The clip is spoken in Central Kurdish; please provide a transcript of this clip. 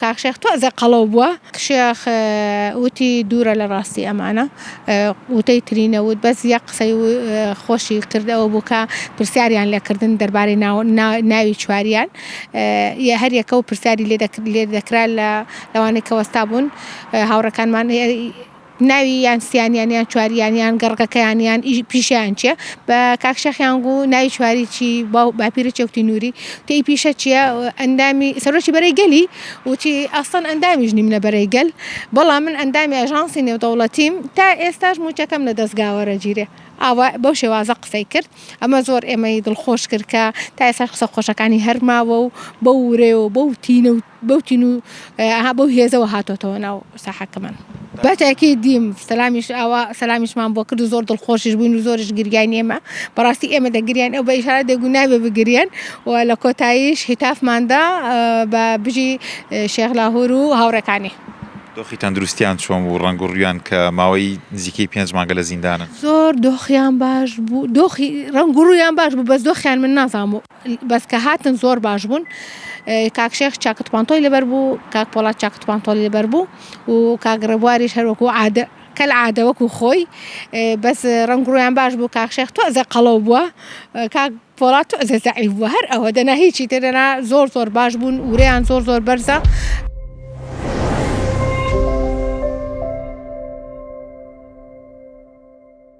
کاک شێخ تۆزێ قەڵەو بووە. شێخ وتی دوورە لە ڕاستی ئەمانە وتەی تری نەوت بەس یەک قسەی خۆشی کرد ئەوە بوو کە پرسیاریان لێ کردن دەربارەی ناوی چواریان یە هەر یەکەو پرسیاری لێ دەکرا لە لەوانەی کە وەستا بوون هاوڕێکانمان ناوی یان سیانیان یان چواریان یان گەڕگەکەیان یان ئی پیشەیان چیە بە کاک شێخیان گوو ناوی چواری چی باو باپیرە چێوتی نووری تێ ئی پیشە چیە ئەندامی سەرۆکی بەرەی گەلی وتی ئەسڵەن ئەندامیش نیم لە بەرەی گەل بەڵام من ئەندامی ئەژانسی نێودەوڵەتیم تا ئێستاش مووچەکەم لە دەزگا وەرەگیرێ ئاوا بەو شێوازە قسەی کرد ئەمە زۆر ئێمەی دڵخۆش کرد کە تا ئێستاش قسە خۆشەکانی هەر ماوە و بەو ورەیەوە بەو تینە و بەو تین و ئەها بەو هێزەوە هاتۆتەوە ناو ساحەکەمان. بە تاکیدیم سەلامیش ئاوا سەلامیشمان بۆ کرد و زۆر دڵخۆشیش بووین و زۆریش گریاین ئێمە بەڕاستی ئێمە دەگریاین ئەو بە ئیشارە دەگو نابێ بگریێن و لە کۆتاییش هیتافماندا بە بژی شێخ لاهور و هاوڕێکانی. دۆخی تەندروستیان چۆن بوو ڕەنگ و ڕوویان کە ماوەی نزیکەی پێنج مانگە لە زیندانن؟ زۆر دۆخیان باش بوو دۆخی ڕەنگ و ڕوویان باش بوو بەس دۆخیان من نازانم و. بەس کە هاتن زۆر باش بوون کاک شێخ چاکت پانتۆی لەبەر بوو کاک پۆڵات چاکت پانتۆڵی لەبەر بوو و کاک ڕێبواریش هەروەکو عادە کەل عادە وەکو خۆی بەس ڕەنگ ڕویان باش بوو کاک شێخ تۆزێ قەڵەو بووە کاک پۆڵات تۆزێ زەعیف بووە هەر ئەوە دەنا هیچی تر دەنا زۆر زۆر باش بوون ورەیان زۆر زۆر بەرزە